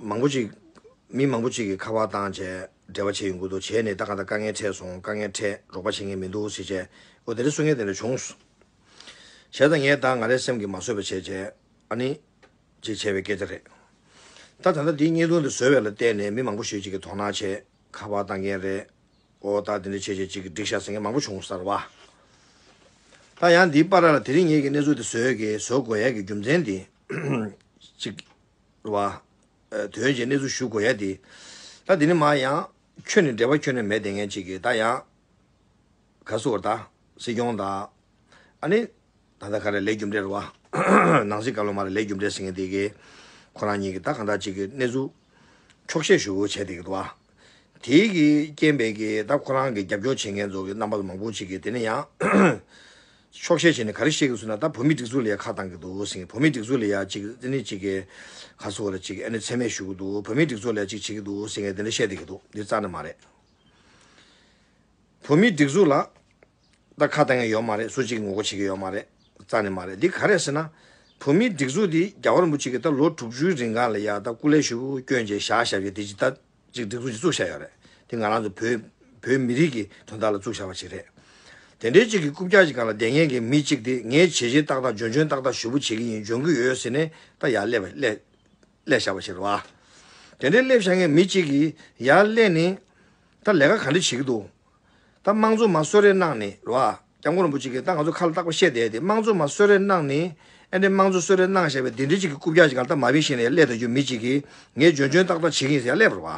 མང་པོ་ཅིག། མི་མང་པོ་ཅིག་གིས་ཁ་བ་བཏང་བྱས་འབྲེལ་བ་བྱས་ཡོང་གི་འདུག་བྱས་ནས་ད་ག་ད་དཀའ་ངལ་འཕྲད་སོང་དཀའ་ངལ་འཕྲད་རོགས་པ་བྱེད་མཁན་མི་འདུག་ཟེར་བྱས་ཨོ་དེ་འདྲ་གསུང་མཁན་དེ་འདྲ་བྱུང། བྱས་ད་ངས་ད་ང་རེ་སེམས་ཀྱིས་མ་བཟོད་པ་བྱས་བྱས་ཨ་ནི། ཅེས་བྱས་པའི་སྐད་ཆ་རེད། ད་ད་ལྟ་འདི་བརྙན་ཐུང་འདི་བཟོ་བའི་ལ་བལྟས་ནས་མི་མང་པོ་ཞིག་ཅིག་གིས་དོགས་སྣང་བྱས་ཁ་བ་བཏང་མཁན་རེད། ཨོ་ད་དེ་འདྲ་བྱས་བྱས་ཅིག་གིས་འགྲིག་ཤག་ཟེར་མཁན་མང་པོ་བྱུང་གསར་བ། ད་ཡང་འདིའི་པར་ར་ལ་དེ་རིང་ངེད་ཀྱིས་གནས་ཚུལ་འདི་བཟོས་ཀྱིས་བཟོ་དགོས་ཡ་གི་རྒྱུ་མཚན་འདི། ཅིག། བ། དོན་བྱེད་གནས་ཚུལ་ཞུ་དགོས་ཡ་དེ། ད་དེ་ནི་མ་ཡང། ཁྱོད་ནི་འབྲེལ་བ་ཁྱོད་ནས་མེད་དེ་ངས་གཅིག་གིས་ད་ཡང། ག་བསུ་བར་ད། སྲིད་སྐྱོང་ད། ཨ་ནི། ད་ལྟ་ག་རེ་ལས་རྒྱུ་འབྲས་རེད་བ། ནང་སྲིད་སྐབས་ལ་མ་རེ་ལས་རྒྱུ་འབྲས་ཟེར་ངེས་དེ་གས། ཁོ་རང་གཉིས་ཀྱིས་ད་གང་དྲག་གཅིག་གིས་གནས་ཚུལ། འཁྱོག་བཤད་ཞུ་བྱས་དེ་གས་བ། དེའི་རྐྱེན་པས་ཀྱི་ད་ཁོ་རང་གི་རྒྱབ་སྐྱོར་བྱེད་མཁན་ཚོ་གི་རྣམ་པ་ལ་མང་པོ་ཅིག་གི་དེ་ནས་ཡང་ཆོག་བཤད་བྱས་ནས་ག་རེ་བཤད་གི་སུ་ན་ད་བོད་མི་སྒྲིག་འཛུགས་ལ་ཡ་ཁ་བཏང་གི་འདུག་ཟིན་བོད་མི་སྒྲིག་འཛུགས་ལ་ཡ་ཅིག་ཙི་ནི་ཅིག་གི་ག་སུ་ར་ཅིག་ཨེ་ནི་ཚད་མས་ཞུ་གི་འདུག་བོད་མི་སྒྲིག་འཛུགས་ལ་ཡ་ཅིག་བྱེད་གི་འདུག་ཟིན་ངས་དེ་འདྲ་བཤད་བསྡད་གི་འདུག་འདི་རྩ་ནས་མ་རེད་བོད་མི་སྒྲིག་འཛུགས་ལ། ད་ཁ་གཏད་ངན་ཡོད་མ་རེད་སུ་གཅིག་ངོ་རྒོལ་བྱེད་ཀྱི་ཡོད་མ་རེད་རྩ་ནས་མ་རེད་འདི་ག་རེད་ཟེར་ན། བོད་མིའི་སྒྲིག་འཛུགས་འདི་རྒྱ་གར་འབུ་ཅིག་གིས་ད་ལོ་དྲུག་ཅུའི་རིང་ག་ལ་ཡ་ད་སྐུ་ལས་ཞུགས་སྐྱོན་ཅེས་བཞག་བཞག་བཞག་འདི་ཇི་ལྟ་ཅིག་སྒྲིག་འཛུགས་ཅིག་བཙུགས་བཞག་ཡོད་རེད་འདི་ང་རང་ཚོ་བོད་བོད་མི་རིགས་ཀྱི་དོན་དག་ལ་བཙུགས་བཞག་པ་ཅིག་རེད། དེ་འདྲའི་ཅིག་གི་རྐུབ་བཀྱག་ཅིག་ག་ལ་བསྡད་ངན་གི་མི་ཅིག་འདི་ངས་བྱེད་བྱེད་ཏག་ཏག་འཇོན་འཇོན་ཏག་ཏག་ཞུ་བོ་བྱེད་ཀྱི་ཡིན་འཇོན་གྱི་ཡོད་ཟེར་ནས་ད་ཡར་སླེབས་སླེབས་སླེབས་བཞག་པ་ཅིག་རེད་བ། དེ་འདྲའི་སླེབས་བཞག་ངན་མི་ཅིག་གིས་ཡར་སླེབས་ནས་ད་ལས་ཀ་ག་འདྲ་བྱེད་ཀྱི་འདུག་ད་དམངས་གཙོ་མ་གསོད་རེས་གནང་ནི་རོ་ཨ། སྐྱབས་མགོན་རིན་པོ་ཆེ་གིས་ད་ང་ཚོ་ཁ་ལ་བཏགས་པ་བཤད་བསྡད་དེ་དམངས་གཙོ་མ་གསོད་རེས་གནང་ནི་ཨེ་འདྲས་དམངས་གཙོ་གསོད་རེས་གནང་བཞག་པའི་དེ་འདྲས་ཅིག་གི་རྐུབ་བཀྱག་ཅིག་གང་ད་མ་བིན་ཤེས་ནས་ཡ་ཀླད་ད་རྒྱུ་མི་ཅིག་གིས་ངས་འཇོན་འཇོན་ཏག་ཏག་བྱེད་གིན་ཟེར་ཡ་ཀླད་བོར་བ།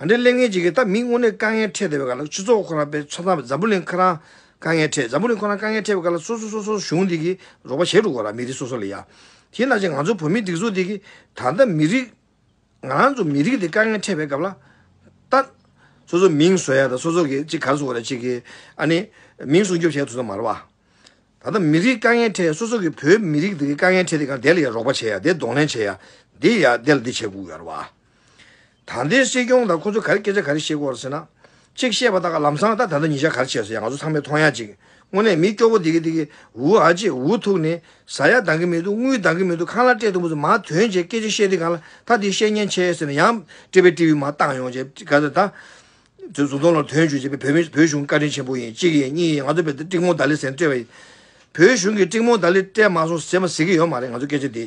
ཨ་འདྲས་གླད་ངན་ཅིག་གིས་ད་མི་དངོས་གནས་དཀའ་ངལ་འཕྲད་བསྡད་པའི་ཁར་ལ་ཆུ་ཚོགས་ཁོ་རང་པའི་ཚོ་ཚང་འཛམ་བུ་གླིང་ཁ་རང་དཀའ་ངལ་འཕྲད་འཛམ་བུ་གླིང་ཁོ་རང་དཀའ་ངལ་འཕྲད་པའི་ཁར་ལ་སོ་སོ་སོ་སོར་གཞུང་འདི་གིས་རོགས་པ་བྱས་འགྲོ་དགོས་ར་མི་རིགས་སོ་སོ་ལ་ཡ། དེས་ན་ཅིག་ང་ཚོ་བོད་མི་སྡིག་གཟུགས་འདི་གིས་ད་ད་མི་རིགས། ང་རང་ཚོ་མི་རིགས་དེ་དཀའ་ངལ་འཕྲད་པའི་སྐབས་ལ་ལྟ། སོ་སོའི་མིང་བཟོས་ཡག་དང་སོ་སོ་གིས་གཅིག་གར་བཟོ་བ་ལས་གཅིག་གིས་ཨ་ནི། མིང་སྲུང་སྐྱོབ་བྱས་ཡག་ཐུག་ས་མ་རེད་བ། ད་ལྟ་མི་རིགས་དཀའ་ངལ་འཕྲད་སོ་སོ་གིས་བོད་མི་རིགས་དེ་དཀའ་ངལ་འཕྲད་དེ་གང་བདེ་ལ་ཡག་རོགས་པ་བྱས་ཡག་བདེ་གདོང་ལེན་བྱས་ཡག་འདི་ཡག་འདི་ལ་འདི་བྱས་དགོས་ཡག་རེད་བ། ད་ལྟའི་སྲིད་སྐྱོང་དང་ཁོ་ཚོས་ག་རེ་སྐད་ཆ་ག་རེ་བཤད་དགོས་རེད་ཟེར་ན། གཅིག་བཤད་པ་དག་ལམ་སང་ད་ད་ད་ཉི་ཤར་གར་བྱས་སོ་ཡ་ང་ཚོ་ཚང་མས་མཐོང་ཡ་གཅིག་དངོས་གནས་མི་སྐྱོ་པོ་འདི་གི་འདི་གི་ཝུ་ཨ་ཅེ་ཝུ་ཐུག་ནི་ཟ་ཡ་འདང་གི་མི་འདུག་རྔུལ་འདང་གི་མི་འདུག་ཁང་གླ་སྤྲད་འདུག་མུ་ཟི་མ་དོན་བྱས་སྐད་ཆ་བཤད་དུས་གང་ལ་ད་དེ་བཤད་ཉན་ཆེ་ཟེར་ན་ཡང་སྤྲེལ་པའི་སྤྲེའུས་མ་བཏང་ཡོང་བྱས་ག་ཟེར་ད། ཟུར་ཟུར་མདོང་ལོར་དོན་བྱོས་བྱས་པས་བོད་མི་བོད་གཞུང་བཀའ་དྲིན་ཆེན་པོ་ཡིན་གཅིག་ཡིན་གཉིས་ཡིན་ང་ཚོ་བོད་དེ་ཀྲིག་མོང་ད་ལི་ཟེར་ན་སྤྲེལ་བ་ཡིན་བོད་གཞུང་གི་ཀྲིག་མོང་ད་ལི་སྤྲད་མ་སོང་ཟེར་མ་ཟེར་གི་ཡོད་མ་རེད་ང་ཚོ་སྐད་ཆ་འདི་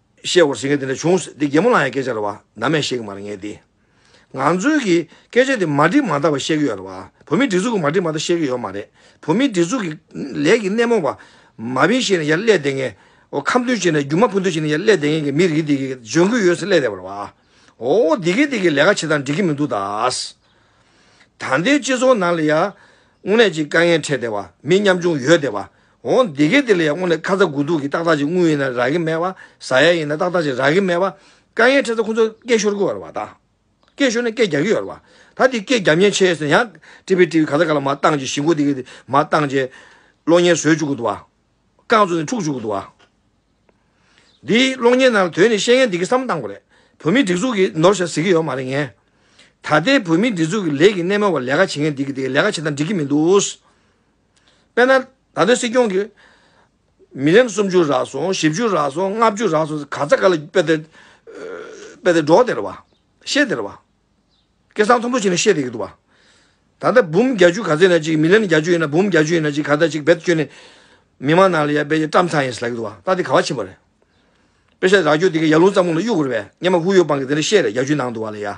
བཤད་དགོས་ཟེར་མཁན་དེ་འདྲ་བྱུང་སྲིད་དེ་རྒན་མོ་ལ་ཡང་སྐད་ཆ་རེ་བ་ནམ་ཡང་བཤད་ཀྱི་མ་རེད་ངས་དེ། ང་ཚོའི་གི་སྐད་ཆ་དེ་མ་འགྲིག་མ་འདག་བ་བཤད་ཀྱི་ཡོད་རེད་བ་བོད་མིའི་སྒྲིག་འཛུགས་ཀྱི་མ་འགྲིག་མ་འདག་བཤད་ཀྱི་ཡོད་མ་རེད་བོད་མིའི་སྒྲིག་འཛུགས་ཀྱི་ལས་ཀྱི་སྣེ་མོ་བ་མ་བིན་བཤད་ནས་ཡར་སླད་བསྡད་མཁན་འོ་ཁམས་སྟོན་བྱེད་ནས་རྒྱུ་མ་ཕུ་འདུ་བྱེད་ནས་ཡར་སླད་བསྡད་མཁན་གྱི་མི་རིགས་དེ་གི་ལྗོན་ཁུ་ཡོད་སེ་སླད་རེད་བ་བ་འོ་འདི་གི་དེ་གི་ལས་ཀ་བྱེད་སྟངས་འགྲིག་གི་མི་འདུག་དཱ། ད་ལྟའི་སྤྱི་ཚོགས་ནང་ལ་ཡ། དངོས་གནས་ཅིག་དཀའ་ངལ་འཕྲད་བསྡད་བ་མི་ཉམ་ཆུང་ཡོད་བསྡད་བ་འོ་འདི་སྐད་དེ་ལ་ཡང་སྔོན་ནས་ཁ་ཚ་དགོས་གཏུགས་ཀྱི་ཏག་ཏག་ཅིག་དངུལ་ཡིན་ན་རག་གི་མེད་པ་བཟའ་ཡ་ཡིན་ན་ཏག་ཏག་ཅིག་རག་གི་མེད་པ། དཀའ་ངལ་འཕྲད་ཚེ་ཁོ་ཚོ་སྐད་ཤོར་གི་ཡོད་རེད་བ་ད། སྐད་ཤོར་ནས་སྐད་རྒྱག་གི་ཡོད་རེད་བ། ད་དེ་སྐད་རྒྱབ་ཉེན་ཆེ་ཟེར་ན་ཡང་ཀྲི་བི་ཀྲི་བི་ག་ཚ་ག་ལ་མ་བཏང་རྗེས་ཞི་མགོ་དེ་གི་མ་བཏང་རྗེས། གློག་བརྙན་བཟོས་བཅུག་གི་འདུག་བ། རྐང་བཙུགས་ནས་འཁྲུག་བཅུག་གི་འདུག་བ། འདི་གློག་བརྙན་ནང་ལ་དོན་ནི་བཤད་མཁན་འདི་གི་བསམ་བློ་གཏང་དགོས་རེད། བོད་མིའི་སྒྲིག་འཛུགས་ཀྱིས་ནོར་ཞིག་ཟེར་གི་ཡོད་མ་རེད་ངས། ད་ལྟའི་བོད་མིའི་སྒྲིག་འཛུགས་ཀྱི་ལས་ཀྱི་སྣེ་མོ་བ་ལས་ཀ་བྱེད་མཁན་འདི་གི་དེ་གི་ལས་ཀ་བྱེད་སྟངས་འགྲིག་གི་མི་འདུག། དཔེར་ན། ད་ལྟའི་སྲིད་སྐྱོང་གིས། མི་ལེམ་སུམ་ཅུ་རག་སོང་བཞི་བཅུ་རག་སོང་ལྔ་བཅུ་རག་སོང་ཟེར་ག་ཚ་ག་ལ་དཔེ་དེར། དཔེ་དེར་སྒྲོག་དེར་བ། བཤད་དེར་བ། སྐད་གསང་མཐོན་པོ་བྱས་ནས་བཤད་དེ་གི་འདུག་བ། ད་ལྟ་འབུམ་བརྒྱ་བཅུ་ག་ཚད་ཡིན་ན་ཅིག་མི་ལེམ་བརྒྱ་བཅུ་ཡིན་ན་འབུམ་བརྒྱ་བཅུ་ཡིན་ན་ཅིག་ག་ཚད་ཅིག་བེད་སྤྱོད་ནས། མི་མང་ནང་ལ་ཡར་སྤེལ་ཡས་བཀྲམ་ཚར་ཡིན་ཟེར་ལགས་གི་འདུག་བ་ལྟ་དེ་ག་བ་ཕྱིན་པ་རེད། དཔེ་བཤད་རག་རྒྱུ་དེ་གི་ཡར་ལུང་རྩམ་ཁུང་ལ་གཡུག་དགོས་རེད་པས་སྙེ་མ་ཧུ་ཡོ་པང་གི་དེ་འདྲ་བཤད་རེད་བརྒྱ་བཅུའི་ནང་དུ་བ་ལ་ཡ།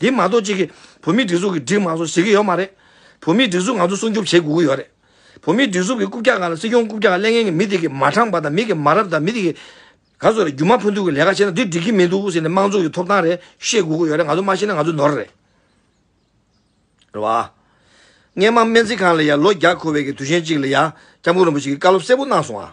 འདི་མ་གཏོགས་ཅིག་གིས་བོད་མིའི་སྒྲིག་འཛུགས་ཀྱི་སྒྲིག་མ་སོགས་བྱེད་ཀྱི་ཡོད་མ་རེད། བོད་མིའི་སྒྲིག་འཛུགས་ང་ཚོ་སྲུང་སྐྱོབ་བྱེད་དགོས་ཀྱི་ཡོད་རེད། བོད་མིའི་སྒྲིག་འཛུགས་ཀྱི་རྐུབ་བཀྱག་ག་ལ་སྲིད་སྐྱོང་རྐུབ་བཀྱག་ག་ལས་ངན་གྱི་མི་དེ་གིས་མ་དྲངས་པ་དང་མི་གིས་མ་རབས་དང་མི་དེ་གིས། ག་ཚོད་རེད་རྒྱུ་མ་ཕུ་འདུག་གི་ལས་ཀ་བྱེད་ན་འདི་འགྲིག་གི་མི་འདུག་ཟེར་ནས་དམངས་གཙོ་ཡི་ཐོབ་ཐང་རེད་ཤེས་དགོས་ཀྱི་ཡོད་རེད་ང་ཚོ་མ་ཤེས་ན་ང་ཚོ་ནོར་རེད། རེད་བ། སྔས་མ་སྨན་རྩིས་ཁང་ལ་ཡང་ལོ་བརྒྱ་འཁོར་བའི་གི་དུས་ཆེན་གཅིག་ལ་ཡང་སྐྱབས་མགོན་རིན་པོ་ཆེ་གིས་བཀའ་སློབ་གསལ་པོ་གནང་སོང་ཨ།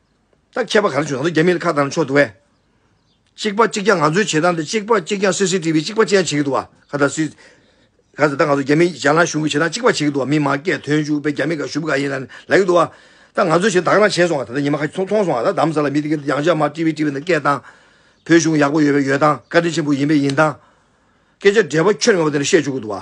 ད་ཁྱད་པར་ག་རེ་བྱུང་ན་རྒྱ་མིའི་ཁ་བཏང་ན་ཆོག་འདུག་བས། གཅིག་པ་གཅིག་རྐྱང་ང་ཚོའི་བྱེད་སྟངས་དེ་གཅིག་པ་གཅིག་རྐྱང་སི་སི་ཏི་བི་གཅིག་པ་གཅིག་རྐྱང་བྱེད་ཀྱི་འདུག་བ་ག་ད་སི། ག་ད་ད་ང་ཚོ་རྒྱ་མི་ཞར་ལངས་གཞུང་གི་བྱེད་སྟངས་གཅིག་པ་བྱེད་ཀྱི་འདུག་བ་མི་མང་སྐད་དོན་ཞུ་བས་རྒྱ་མི་ག་ཞུ་བ་ག་ཡིན་ལ་ལ་ཡི་འདུག་བ། ད་ང་ཚོའི་བྱེད་སྟངས་དག་རང་བྱས་སོང་བ་ད་ད་ཉི་མ་ཁ་ཅིག་ཚོང་མཐོང་སོང་བ་ད་གདམས་ས་ལ་མི་དེ་གི་ཡང་བྱ་མ་ཏི་བི་ཏི་བི་ན་སྐད་སྟངས། བོད་གཞུང་ཡག་པོ་ཡོད་པས་ཡོད་སྟངས་བཀའ་དྲིན་ཆེན་པོ་ཡིན་པས་ཡིན་སྟངས། སྐད་ཆ་འདྲེས་པ་ཁྱོད་ངེས་པ་དེ་འདྲ་བཤད་བཅུག་གི་འདུག་བ།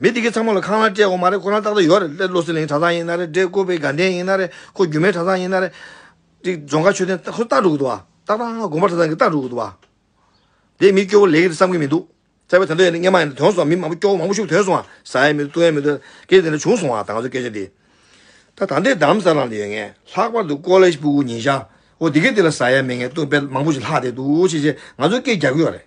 མི་དེ་གས་ཚང་མ་ལ་ཁང་ལ་སྤྲད་འོ་མ་རེད་ཁོ་རང་ཏག་ཏག་ཡོད་རེད་སླེ་བློ་སེང་ལེང་གྲྭ་ཚང་ཡིན་ན་རེད་འདྲེ་བཀོལ་པའི་དགའ་ལྡན་ཡིན་ན་རེད་ཁོ་རྒྱུ་མའི་གྲྭ་ཚང་ཡིན་ན་རེད། དེ་རྫོང་ཁ་ཆོས་ལྡན་ཁོ་སྟག་འགྲོ་གི་འདུག་བ། ཏག་ཏག་དགོན་པ་གྲྭ་ཚང་གི་སྟག་འགྲོ་གི་འདུག་བ། དེ་མི་སྐྱོ་བོ་ལེགས་རེད་བསམ་གི་མི་འདུག་བཙལ་བའི་དོན་དུ་ཡིན་ན་སྔན་མ་ཡིན་ན་དོན་སོང་བ་མི་མང་པོ་སྐྱོ་བོ་མང་པོ་ཤུགས་དོན་སོང་བ་ཟ་ཡས་མི་འདུག་བཏུང་ཡས་མི་འདུག་སྐད་དེ་འདྲ་བྱུང་སོང་བ་ད་ང་ཚོའི་སྐད་ཆ་འདི། ད་ད་འདྲེ་གདམ་ས་རང་དུ་ཡོད་ངེས་ལྷག་པར་དུ་ཀོ་ལེ་སྤུ་གུ་ཉིན་ཞག་འོ་དེ་གས་དེ་ལ་ཟ་ཡས་མེད་ངེས་བཏུང་དཔེ་མང་པོ་ཞིག་ལྷག་བསྡད་འདུག་ཅེས་ཅེས་ང་ཚོའི་སྐད་རྒྱག་གི་ཡོད་རེད།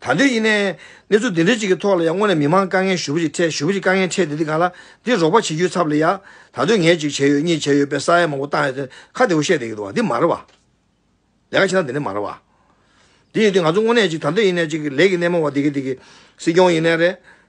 ད་འདོད་ཡིན་ནའི། གནས་ཚུལ་འདི་འདྲ་ཅིག་གི་ཐོག་ལ་ཡང་དངོས་ནས་མི་མང་དཀའ་ངལ་ཞུ་བ་ཞིག་འཕྲད་ཞུ་བ་ཞིག་དཀའ་ངལ་འཕྲད་དེ་འདི་ག་ལ་འདི་རོགས་པ་བྱེད་རྒྱུའི་ཚབ་ལ་ཡང་ད་འདོད་ངས་ཅིག་བྱས་ཡོད་གཉིས་བྱས་ཡོད་པའི་ས་ཡ་མང་པོ་བཏང་ཡོད་དེ་ཁ་བདེ་བོ་བཤད་བསྡད་ཀྱི་འདུག་བ་འདི་མ་རེད་བ། ལས་ཀ་བྱེད་སྟངས་འདི་འདྲ་མ་རེད་བ། འདི་ཡོད་དུས་ང་ཚོ་དངོས་གནས་ཅིག་ད་འདོད་ཡིན་ནའི་ཅིག་ལས་ཀྱི་སྣེ་མོ་བ་འདི་གི་འདི་གི་སྲིད་སྐྱོང་ཡིན་ནའི་རེད།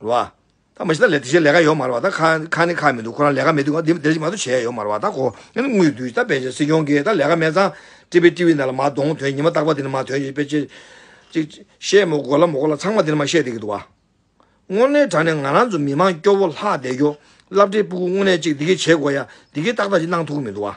བ། ད་མ་ཤི་ད་ལས་དེ་བཞིན་ལས་ཀ་ཡོད་མ་རེད་བ་ད་ཁ་ནི་ཁ་མི་འདུག་ཁོ་རང་ལས་ཀ་མི་འདུག་ག་འདི་འདི་ཞིག་མ་གཏོགས་བྱས་ཡོད་མ་རེད་བ་ད་གོ་ཡང་ན་དངུལ་བསྡུ་ཤི་ད་དཔེ་ཆ་སྲིད་སྐྱོང་གིས་ད་ལས་ཀ་མེད་ཙང་ཀྲི་པི་ཀྲི་བི་ནས་ལ་མ་གཏོང་དོན་ཉི་མ་རྟག་པ་དེ་ནི་མ་དོན་ཅིག་དཔེ་ཅིག་བཤད་མོ་གོ་ལ་མོ་གོ་ལ་ཚང་མ་དེ་ནི་མ་བཤད་དེ་གི་འདུག་བ། དངོས་གནས་དྲ་ནས་ང་རང་ཚོ་མི་མང་སྐྱོ་བོ་ལྷག་བསྡད་རྒྱོ་བསླབ་འབྲས་སྤུ་གུ་དངོས་གནས་ཅིག་འདི་གི་བྱེད་དགོས་ཡ་འདི་གི་ཏག་ཏག་ཅིག་གནང་ཐུག་གི་མི་འདུག་བ།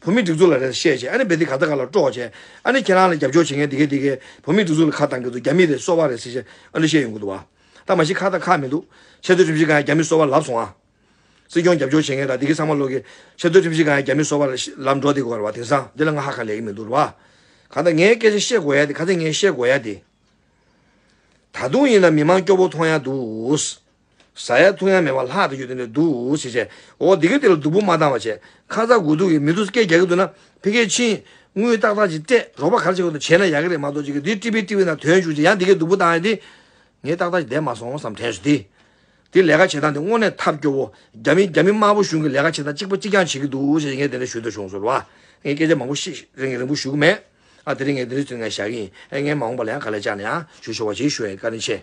བོད་མིའི་སྒྲིག་འཛུགས་ལ་རེ་ད་བཤད་བྱས་ཨ་ནི་བེ་དེ་ག་ད་ག་ལ་སྤྲོ་བྱས་ཨ་ནི་ཁྱེད་རང་ལ་རྒྱབ་སྐྱོར་བྱེད་མཁན་དེ་གས་དེ་གས་བོད་མིའི་སྒྲིག་འཛུགས་ལ་ཁ་གཏང་གི་འདུག་རྒྱ་མི་རེད་གསོ་བ་རེད་ཟེར་བྱས་ཨ་ནི་བཤད་ཡོང་གི་འདུག་བ་ད་མ་ཤི་ཁ་ད་ཁ་མི་འདུག་ཆེ་བསྟོད་ཁྲིམས་གཞི་གང་ཡང་རྒྱ་མི་གསོ་བ་ལབ་སོང་ཨ། སྲིད་སྐྱོང་རྒྱབ་སྐྱོར་བྱེད་མཁན་ད་དེ་གས་ཚང་མ་ལོག་གི་ཆེ་བསྟོད་ཁྲིམས་གཞི་གང་ཡང་རྒྱ་མི་གསོ་བ་ལབ་འགྲོ་དེ་གོ་རེད་བ་དེང་སང་འདི་ལ་ང་ཧ་ག་ལས་གི་མི་འདུག་རེད་བ། གང་ད་ངའི་སྐད་ཆ་བཤད་གོ་ཡ་དེ་ག་ཚད་ངས་བཤད་གོ་ཡ་དེ། ད་དུང་ཡིན་ན་མི་མང་སྐྱོ་བོ་མཐོང་ཡ་འདུག། བཟའ་ཡ་འཐུང་ཡ་མེད་པར་ལྷག་ཏུ་གཡོལ་ཏེ་འདུག་ཞེས་བཤད། འོ་དེ་གའི་དེ་ལ་སྡུག་པོ་མ་བཏང་བ་བྱས། ཁ་ཚ་དགོས་གཏུགས་ཀྱིས་མི་འདུག་སྐད་རྒྱག་གི་འདུག་ན་ཕི་ཁའི་ཕྱིན། དངུལ་ཏག་ཏག་ཅིག་སྤྲད་རོགས་པ་ག་རེ་བྱེད་དགོས་འདུག་བྱས་ན་ཡག་གི་རེད་མ་གཏོགས་ཅི་གི་འདི་ཀྲི་པི་ཀྲི་པི་ན་དོན་བྱུང་རྗེས་ཡང་དེ་གའི་སྡུག་པོ་བཏང་ཡ་དེ། ངས་ཏག་ཏག་ཅིག་བསྡད་མ་སོང་བསམ་དྲན་བྱུང། དེ་དེ་ལས་ཀ་བྱེད་སྟངས་དེ་དངོས་གནས་ཐབས་སྐྱོ་བོ། རྒྱ་མི་རྒྱ་མི་དམར་པོ་གཞུང་གི་ལས་ཀ་བྱེད་སྟངས་གཅིག་པ་གཅིག་རྐྱང་བྱེད་ཀྱི་འདུག་ཞེས་ངས་དེ་འདྲ་ཞུས་འདོད་བྱུང་ཟེར་བ། ངས་སྐད་ཆ་མང་པོ་ཤི་རིང་རིང་པོ་ཞུ་གི་མེད། ཨ་དེ་རིང་ངས་འདི་འདྲའི་ཚུལ་ངས་བཞག་གི་ཡིན། ཨེ་ངས་མ་འོངས་པ་ལ་ཡང་ག་ལེར་བཅར་ནས་ཡང་ཞུ་ཆོག་པ་ཞིག་ཞུ་ཡ་ཡི་བཀའ་དྲིན་ཆེ།